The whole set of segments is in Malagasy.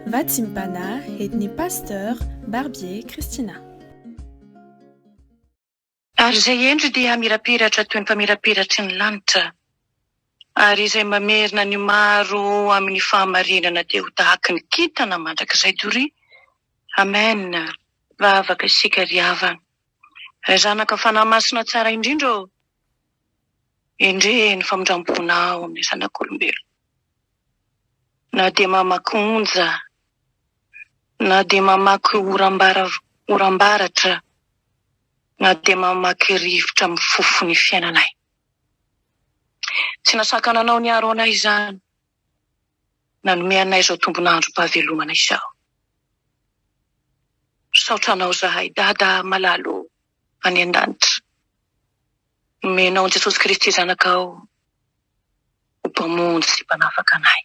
Vatsimbana edn'ny Pasteur Barbier Christina. Ary izay hendry dia hamirapiratra toy ny famirapiratry ny lanitra, ary izay mamerina ny maro amin'ny fahamarinana dia ho tahaky ny kintana mandrakizay doria. Amen! Vavaka isika ry havana. Ray Zanaka Fanahy Masina Tsara Indrindra ô! Endrey ny famindram-ponao amin'ny zanak'olombelona. Na dia mamaky onja, na dia mamaky oram-baratra, na dia mamaky rivotra mifofo ny fiainanay. Tsy nasakana anao niaro anay izany. Nanome anay izao tombon'androm-pahavelomana izao. Misaotra anao izahay Dada malala ô, any an-danitra. Nomenao an'i Jesosy Kristy Zanakao Ho Mpamonjy sy Mpanafaka anay.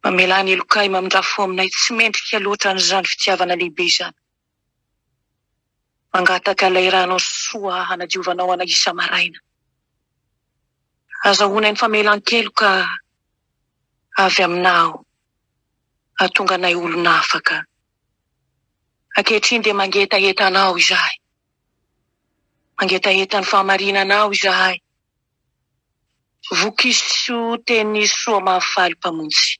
Mamelà ny helokay mamindrà fo aminay tsy mendrika loatra an'izany fitiavana lehibe izany. Mangataka ilay Ranao soa hanadiovanao anay isa-maraina. Azahoanay ny famelan-keloka avy Aminao hahatonga anay olona afaka. Ankehitriny dia mangetaheta Anao izahay. Mangetaheta ny fahamarinana aho izahay. Vokiso teny Nisoa Mahafaly Mpamonjy.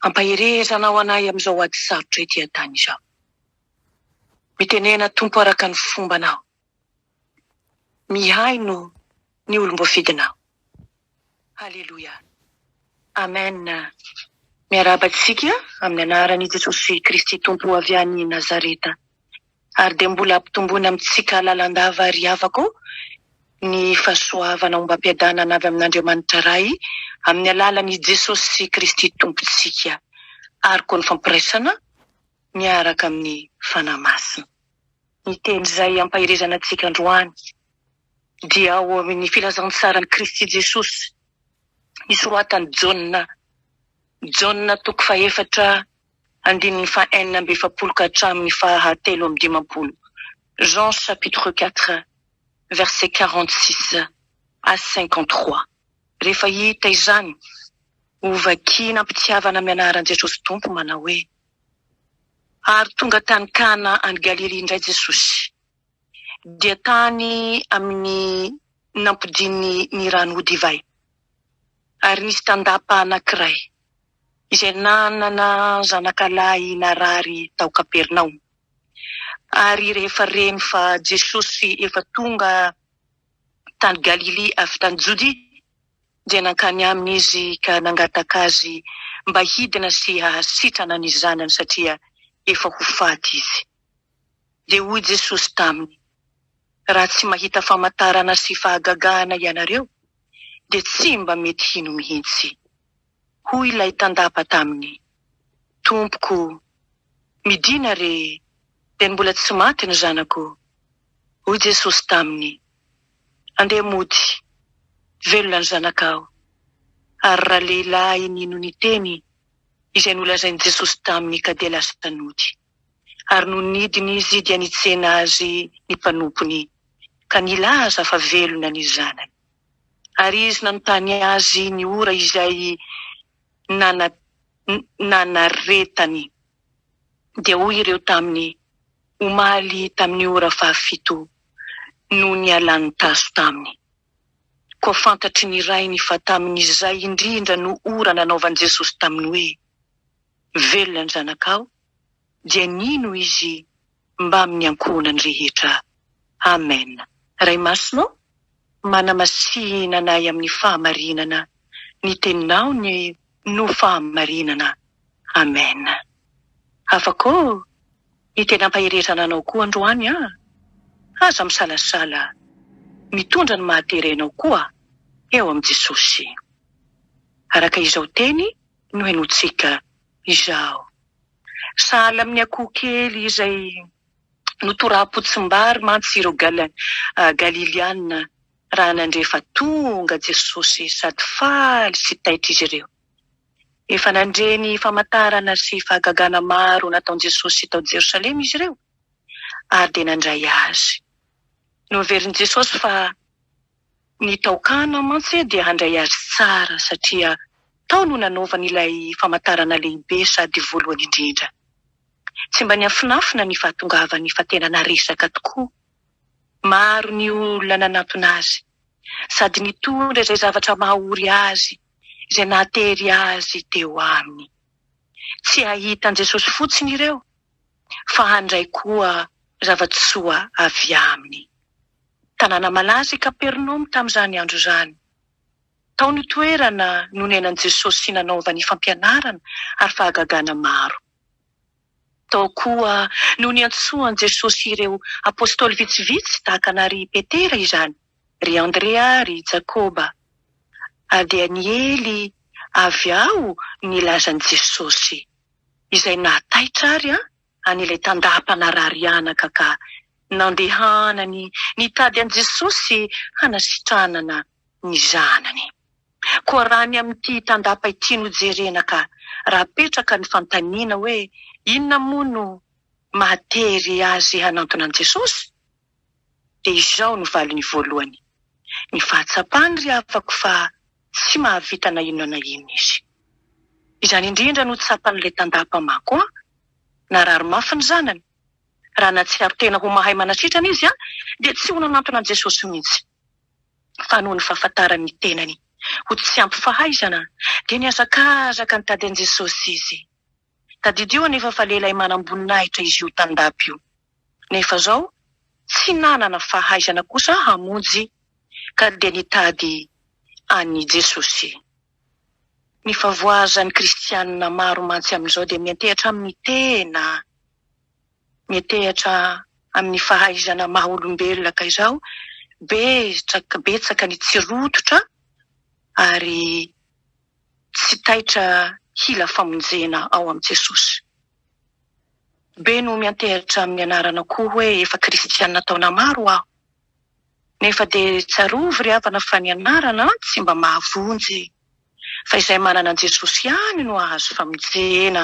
Ampahereza Anao anay amin'izao ady sarotra ety an-tany izao. Mitenena Tompo araka ny fombanao. Mihaino ny olom-boafidinao. Haleloia Amen Miarahaba antsika amin'ny anaran' i Jesosy Kristy Tompo avy any Nazareta ary dia mbola ampitomboina amintsika lalandava ry havako ô ny fahasoavana ombam-piadanana avy amin' Andriamanitra Ray amin'ny alalan' i Jesosy Kristy Tompontsika ary koa ny fampiraisana miaraka amin'ny Fanahy Masina. Ny teny izay ampaherezana antsika androany dia ao amin' ny Filazantsaran' i Kristy Jesosy nosoratan'i Jaona, Jaona toko fahefatra andininy fahenina amby efapolo ka hatramin' ny faha telo amby dimampolo, Jean chapitre quatre verset quarante six à cinquante trois. Rehefa hita izany, hovakiana am-pitiavana amin' ny anaran' Jesosy Tompo manao hoe, Ary tonga tany Kana any Galilia indray Jesosy. dia tany amin' ny nampodian' ny rano ho divay. Ary nisy tandapa anankiray, izay nanana zanakalahy narary tao Kapernaomy. Ary rehefa reny fa Jesosy efa tonga tany Galilia avy tany Jodia, dia nankany aminy izy ka nangataka azy mba hidina sy hahasitrana ny zanany, satria efa ho faty izy. Dia hoy Jesosy taminy, Raha tsy mahita famantarana sy fahagagahana ianareo, dia tsy mba mety hino mihitsy. Hoy ilay tandapa taminy, Tompoko, midìna re, dia mbola tsy maty ny zanako. Hoy Jesosy taminy, Andeha mody, velona ny zanakao. Ary ralehilahy nino ny teny izay nolazain'i Jesosy taminy ka dia lasa nody. Ary nony nidiny izy dia nitsena azy ny mpanompony, ka nilaza fa velona ny zanany. Ary izy nanontany azy ny ora izay nana, nanaretany. Dia hoy ireo taminy, Omaly tamin'ny ora fahafito, no nialany taso taminy. Koa fantatry ny rainy fa tamin'izay indrindra no ora nanaovan'i Jesosy taminy hoe, velona ny zanakao, dia nino izy mbamin' ny ankohonany rehetra. Amen. Ray Masina ô, manamasihina anay amin' ny fahamarinana ny Teninao ny no fahamarinana. Amen. Afaka ô, ny tena ampaherezana Anao koa androany an! Aza misalasala, mitondra ny maha-tere anao koa eo amin'i Jesosy. Araka izao teny no henointsika izao. Sahala amin'ny akoho kely izay notoraham-potsimbary mantsy ireo Galiliana raha nandre fa tonga Jesosy sady faly sy taitra izy ireo. Efa nandre ny famantarana sy fahagagana maro nataon'i Jesosy tao Jerosalema izy ireo ary dia nandray azy. Noverin'i Jesosy fa Ny tao Kana mantsy dia handray azy tsara satria tao no nanaovany ilay famantarana lehibe sady voalohany indrindra. Tsy mba niafinafina ny fahatongavany fa tena naresaka tokoa. Maro ny olona nanantona azy sady nitondra izay zavatra maha-ory azy izay nahatery azy teo aminy. Tsy hahita an'i Jesosy fotsiny ireo fa handray koa zava-tsoa avy aminy. Tanàna malaza i Kapernaomy tamin'izany andro izany. Tao no toerana nonenan'i Jesosy sy nanaovany fampianarana ary fahagagana maro. Tao koa no niantsoan'i Jesosy ireo apostoly vitsivitsy tahaka an'Ary Petera izany, ry Andrea, ry Jakoba. Adihaniely avy ao ny lazan'i Jesosy. izay nahataitra ary an an'ilay tandaham-panararianaka ka nandehanany nitady an'i Jesosy hanasitranana ny zanany. Koa raha ny amin'ity tandapa ity no jerena ka raha apetraka ny fantaniana hoe inona moa no mahatery azy hanantona an'i Jesosy? Dia izao no valiny voalohany, Ny fahatsapany ry havako fa tsy mahavita na inona na inona izy. Izany indrindra no tsapan'ilay tantà mpamako an! Narary mafy ny zanany. Raha nahatsiaro tena ho mahay manasitrana izy dia tsy ho nanantona an'i Jesosy mihitsy. Fa noho ny fahafantarany ny tenany ho tsy ampy fahaizana dia nihazakazaka nitady an'i Jesosy izy. Tadidio anefa fa lehilahy manam-boninahitra izy io Tandapa io. Nefa zao tsy nanana fahaizana kosa hamonjy ka dia nitady an'i Jesosy. Ny favoazan'ny kristianina maro mantsy amin'izao dia miantehatra amin'ny tena, miantehatra amin'ny fahaizana maha olombelona ka izao betsaka betsaka ny tsy rototra ary. tsy taitra hila famonjena ao amin'i Jesosy. Be no miantehitra amin'ny anarana koa hoe efa kristiana taona maro aho. Nefa dia tsarovy ry havana fa ny anarana tsy mba mahavonjy e! Fa izay manana an'i Jesosy ihany no hahazo famonjena.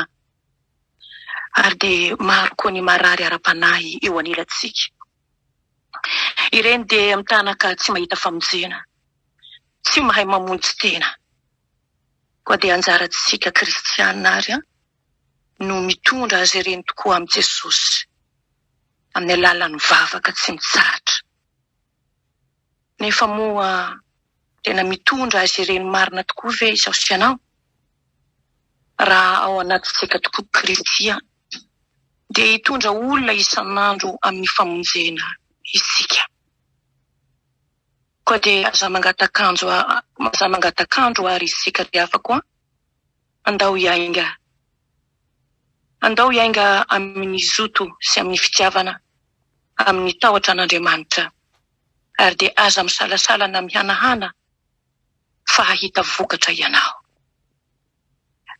Ary dia maro koa ny marary ara-panahy eo anilantsika. Ireny dia mitana ka tsy mahita famonjena, tsy mahay mamonjy tena. Koa dia anjarantsika kristiana ary no mitondra azy ireny tokoa amin'i Jesosy, amin'ny alalan'ny vavaka tsy mitsahatra. Nefa moa tena mitondra azy ireny marina tokoa ve izaho sy ianao? Raha ao anatintsika tokoa Kristy, dia hitondra olona isan'andro amin'ny famonjena isika. Koa dia aza mangatankandro àry isika ry havako a! Andao hiainga, andao hiainga amin'ny zoto sy amin'ny fitiavana, amin'ny tahotra an'Andriamanitra ary dia aza misalasala na mihanahana fa hahita vokatra ianao.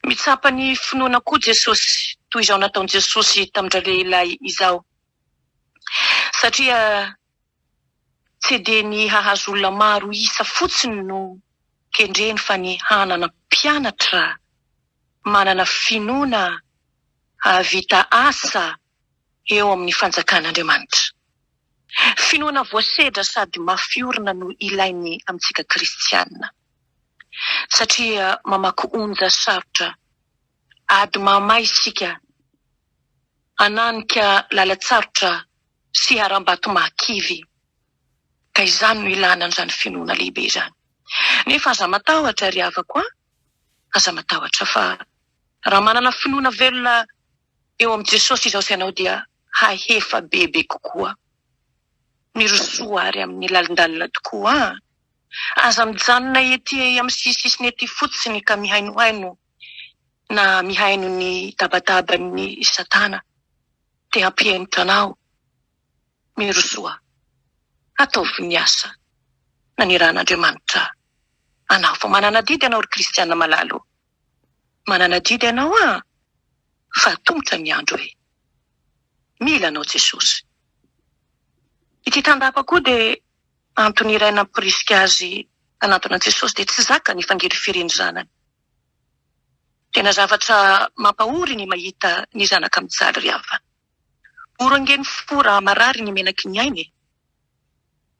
Mitsapa ny finoana koa Jesosy toy izao nataon'i Jesosy tamin-dralehilahy izao, satria tsy dia ny hahazo olona maro isa fotsiny no kendreny fa ny hanana mpianatra manana finoana hahavita asa eo amin'ny Fanjakan'Andriamanitra. Finoana voasedra sady mafy orina no ilainy amintsika kristiana, satria mamaky onja sarotra, ady mahamay isika, hananika lalan-tsarotra sy haram-bato mahakivy, ka izany no ilana an'izany finoana lehibe izany. Nefa aza matahotra, ry havako a! aza matahotra, fa raha manana finoana velona eo amin'i Jesosy izao sy ianao dia hahefa bebe kokoa. Mirosoa ary amin'ny lalindalina tokoa an! Aza mijanona ety amin'ny sisisisiny ety fotsiny ka mihainohaino na mihaino ny tabataban'i Satana te hampihemotra anao. Mirosoa. Ataovy ny asa nanirahan'Andriamanitra anao. Vao manana adidy ianao ry kristiana malala ô! Manana adidy anao ah fa atomboka ny andro e Mila anao Jesosy Ity tandapa koa dia antony iray nampirisika azy hanantona an'i Jesosy dia tsy zakany hifangirifirin'ny zanany Tena zavatra mampahory ny mahita ny zanaka mijaly ry havana. Mora ange ny fo raha marary ny menaky ny ainy e!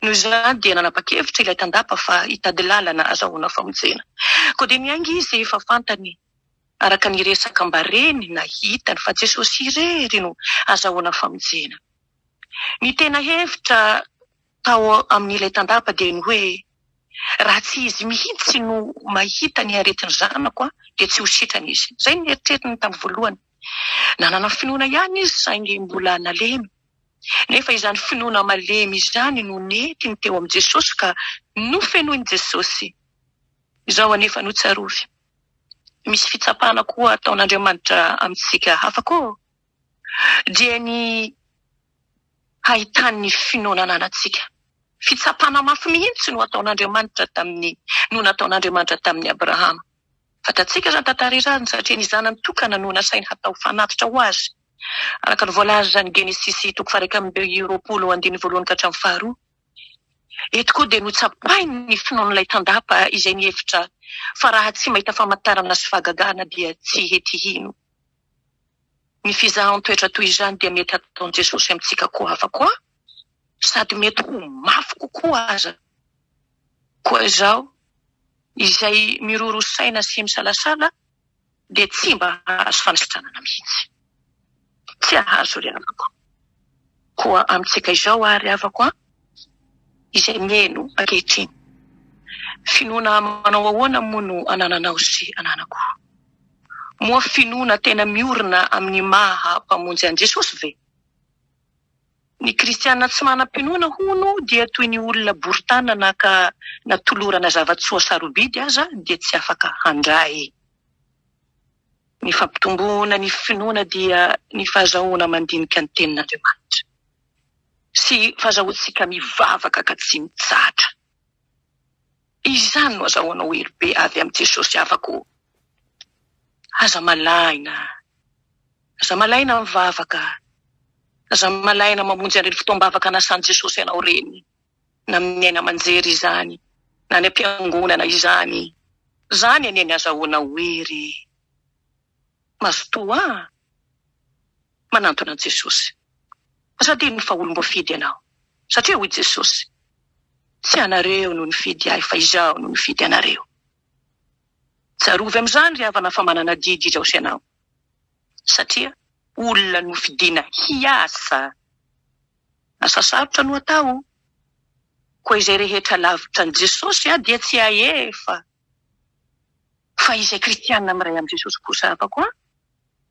Noho izany dia nanapa-kevitra ilay tandapa fa hitady lalana azahoana famonjena. Koa dia niainga izy fa fantany araka ny resaka mba reny na hitany fa Jesosy irery no azahoana famonjena. Ny tena hevitra tao amin'ilay tandapa dia ny hoe raha tsy izy mihitsy no mahita ny aretin'ny zanako dia tsy ho sitrana izy. Izay no neritreritiny tamin'ny voalohany. Nanana finoana ihany izy saingy mbola nalemy. Nefa izany finoana malemy izany no nentiny teo amin'i Jesosy ka nofenoin'i Jesosy. Izao anefa no tsarovy, misy fitsapana koa ataon'Andriamanitra amintsika hafa koa, dia ny hahitany ny finoana ananantsika. Fitsapana mafy mihitsy no ataon'Andriamanitra tamin'ny no nataon'Andriamanitra tamin'i Abrahama. Fantatsika izany tantara izany satria ny Zanany tokana no nasainy hatao fanatitra ho Azy, araka ny voalaza any Genesisy toko faha-iraika amby roapolo andininy voalohany ka hatramin'ny faharoa. Eto koa dia notsapahiny ny finoan'ilay tandapa izay nihevitra fa raha tsy mahita famantarana sy fahagagana dia tsy hety hino. Ny fizahan-toetra toy izany dia mety hataon'i Jesosy amintsika koa hafa koa sady mety ho mafy kokoa aza. Koa izaho, izay miroro saina sy misalasala, dia tsy mba hahazo fanisitranana mihitsy. Tsy hahazo ry havako. Koa amintsika izao àry, havako an, izay mihaino ankehitriny, finoana manao ahoana moa no anananao sy ananako? Moa finoana tena miorina amin'ny maha Mpamonjy an'i Jesosy ve? Ny kristiana tsy manam-pinoana, hono, dia toy ny olona bory tanana na ka natolorana zava-tsoa sarobidy aza dia tsy afaka handray. Ny fampitomboana ny finoana dia ny fahazahoana mandinika ny Tenin'Andriamanitra sy fahazahoantsika mivavaka ka tsy mitsahatra. Izany no azahoanao hery be avy amin'i Jesosy havako o! Aza malahina, aza malahina mivavaka, aza malahina mamonjy an'ireny fotoam-bavaka nasan'i Jesosy anao ireny, na amin'ny haino aman-jery izany, na any am-piangonana izany. Izany anie ny azahoanao hery e! Mazotoa a! manantona an'i Jesosy. Aza adinony fa olom-boafidy ianao, satria hoy Jesosy, Tsy ianareo no nifidy ahy, fa Izaho no nifidy anareo. Tsarovy amin'izany, ry havana, fa manana adidy Jesosy ianao, satria olona nofidina hiasa. Asa sarotra no atao, koa izay rehetra lavitra an'i Jesosy dia tsy hahefa. Fa izay kristiana miray amin'i Jesosy kosa afakoa.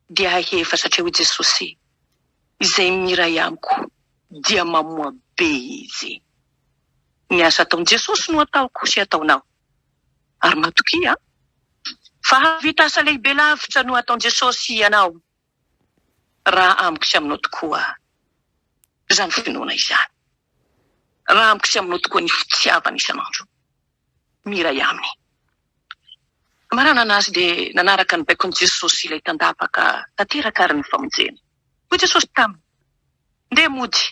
dia haheva satria hoy Jesosy, Izay miray amiko dia mamoa be izy. Ny asa ataon'i Jesosy no ataoko sy ataonao. Ary matokia fa hahavita asa lehibe lavitra noho ataon'i Jesosy ianao raha amiko sy aminao tokoa izany finoana izany, raha amiko sy aminao tokoa ny fitiavana isan'andro. ny iray aminy. Maranana azy dia nanaraka ny baikon'i Jesosy ilay tandavaka tanteraka ary ny famonjena. Hoy Jesosy taminy, Ndeha mody,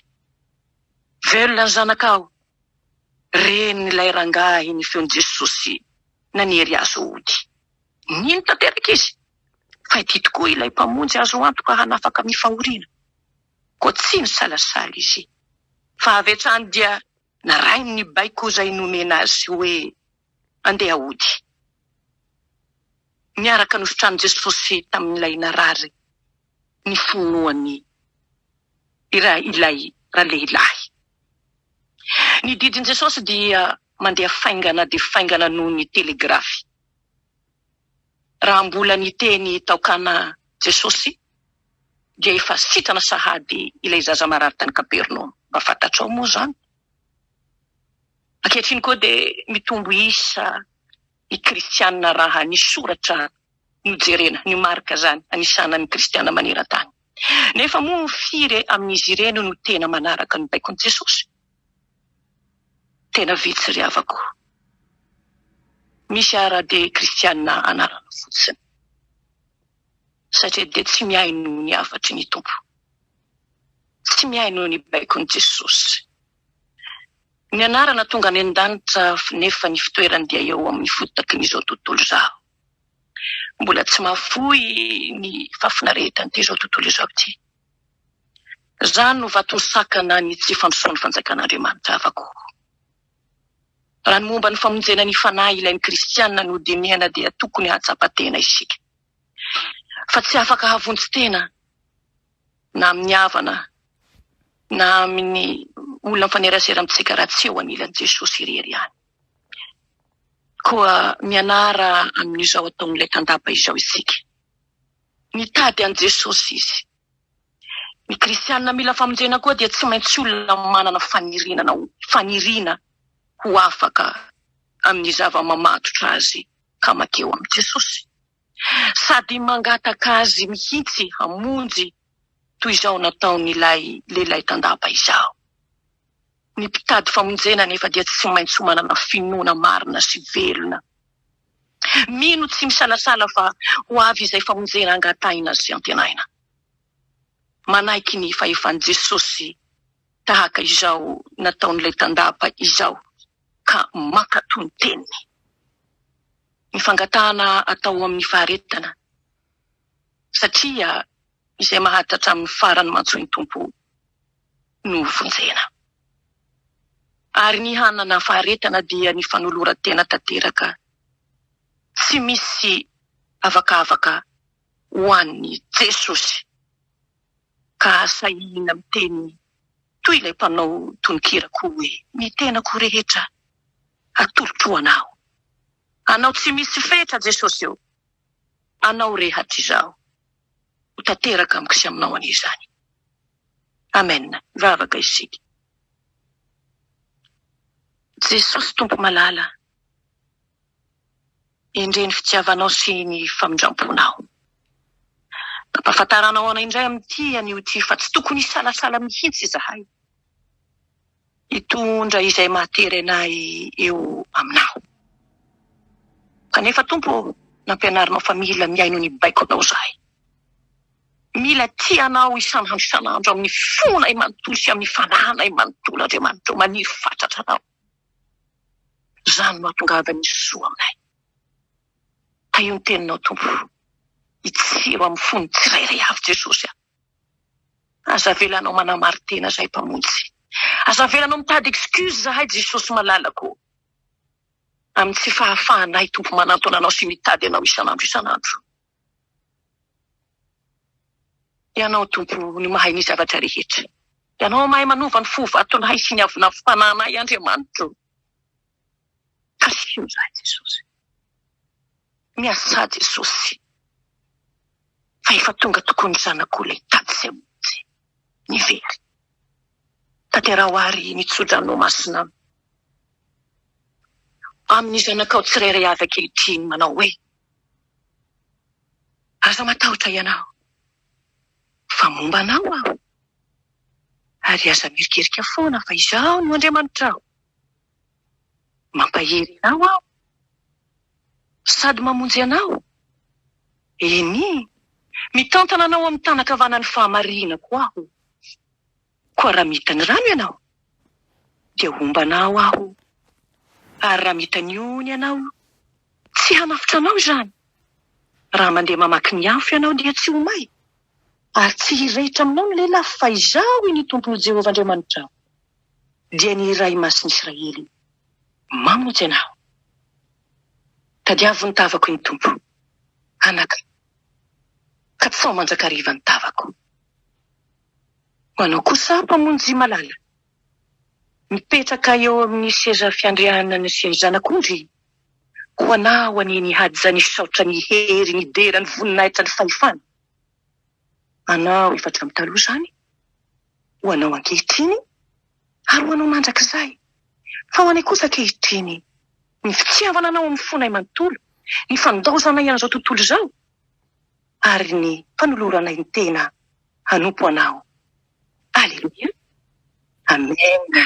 velona ny zanakao. Ren'ilay rangahy ny feon'i Jesosy nanery azy ho ody. Nino tanteraka izy fa ity tokoa ilay Mpamonjy azo antoka hanafaka amin'ny fahoriana. Koa tsy nisalasala izy fa avy hatrany dia. Narahiny ny baiko izay nomena azy hoe andeha hody. Niaraka nositrany Jesosy tamin'ilay narary ny finoany ilay ralehilahy. Ny didin'i Jesosy dia mandeha faingana dia faingana noho ny telegrafy. Raha mbola niteny tao Kana Jesosy, dia efa sitrana sahady ilay zaza marary tany Kapernaomy. Mba fantatrao moa izany? Ankehitriny koa dia mitombo isa ny kristiana raha ny soratra no jerena, ny marika izany anisana ny kristiana maneran-tany. Nefa moa firy amin'izy ireny no tena manaraka ny baikon'i Jesosy? Tena vitsy ry havako. Misy ara dia kristiana anarana fotsiny. satria dia tsy miahy noho ny hafatry ny Tompo. Tsy miahy noho ny baikon'i Jesosy. Ny anarana tonga any an-danitra nefa ny fitoerany dia eo amin'ny fotakin'izao tontolo izao. Mbola tsy mahafoy ny fahafinaretan'ity izao tontolo izao ity. Izany no vato misakana ny tsy fandrosoan'ny fanjakan'Andriamanitra avako. Raha ny momba ny famonjena ny fanahy ilain'ny kristiana nodinihana dia tokony hahatsapa tena isika fa tsy afaka havonjy tena na amin'ny havana na amin'ny olona mifanerasera amintsika raha tsy eo anilan'i Jesosy irery ihany. Koa mianara amin'izao ataon'ilay tandapa izao isika. Nitady an'i Jesosy izy. Ny kristiana mila famonjena koa dia tsy maintsy olona manana fanirenana ho faniriana ho afaka amin'ny zava-mamatotra azy ka makeo amin'i Jesosy sady mangataka azy mihitsy hamonjy toy izao nataon'ilay lehilahy tandapa izaho. Ny mpitady famonjena anefa dia tsy maintsy manana finoana marina sy velona Mino tsy misalasala fa ho avy izay famonjena angatahina sy antenaina. Manaiky ny fahefan'i Jesosy tahaka izao nataon'ilay tandapa izao ka mankatò ny teniny. Ny fangatahana atao ao amin'ny faharetana, satria izay maharitra hatramin'ny farany mantsy hoy ny Tompo. novonjena. Ary ny hanana faharetana dia ny fanoloran-tena tanteraka tsy misy avakavaka ho an'i Jesosy. Ka sahirana miteny toy ilay mpanao tononkira koa hoe, Ny tenako rehetra atolotro ho anao. Anao tsy misy fetra Jesosy ô. Anao rehat izaho ho tanteraka amiko sy aminao anie izany. Amen mivavaka isika. Jesosy Tompo malala endrey ny fitiavanao sy ny famindramponao. Ampafantaranao anay indray amin'ity anio ity fa tsy tokony hisalasala mihitsy izahay Hitondra izay mahaterena ahy eo Aminao. Kanefa Tompo ô, nampianarinao fa mila mihaino ny baikonao izahay. Mila tia Anao isan'andro isan'andro amin'ny fonay manontolo sy amin'ny fanahinay manontolo, Andriamanitra ô, maniry fatratra Anao. Izany no hahatongava ny soa aminay. Tahio ny Teninao Tompo, hitsiro amin'ny fon'ny tsirairay avy Jesosy a. Aza avelanao manamarin-tena zahay Mpamonjy. Aza avelanao mitady excuse zahay Jesosy malalako ô. Amin'ny tsy fahafahanay Tompo manantona Anao sy mitady Anao isan'andro isan'andro. Ianao Tompo no mahay ny zavatra rehetra. Ianao mahay manova ny fo vatonay sy ny avonavon-panahinay Andriamanitro. Asio zah Jesosy. Miasà Jesosy fa efa tonga tokoa ny zanakao ilay tady izay monjy ny very. Tanteraho ary ny tso-dranonao masina aminy. Amin'ny zanakao tsirairay avy ankehitriny manao hoe, Aza matahotra ianao fa momba anao aho ary aza mierikerika foana fa izaho no Andriamanitrao. Mampahery anao aho sady mamonjy anao, eny, mitantana anao amin'ny tanan-kavanan'ny fahamarihina koa aho. Koa raha mita ny rano ianao, dia homba anao aho, ary raha mita ny ony ianao, tsy hanafotra anao izany. Raha mandeha mamaky ny afo ianao, dia tsy ho may, ary tsy hirehitra aminao ny lelafo, fa Izaho, iny Tomponao Jehovah Andriamanitrao. dia ny Iray Masin'i Israely, Mamonjy anao. Tadiavo ny tavako ny Tompo, anaka, ka tsy sao mandrakariva ny tavako. Ho anao kosa, Mpamonjy malala, mipetraka eo amin'ny seza fiandrianana sy ny Zanak'ondry, ho anao anie ny haja, ny saotra, ny hery, ny dera, ny voninahitra, ny fahefana. Anao efa hatramin'ny taloha izany, ho anao ankehitriny, ary ho anao mandrakizay. Fa ho anay kosa ankehitriny, ny fitiavana anao amin'ny fonay manontolo, ny fandaozanay an'izao tontolo izao, ary ny fanoloranay ny tena hanompo anao. Aleloia. Amena.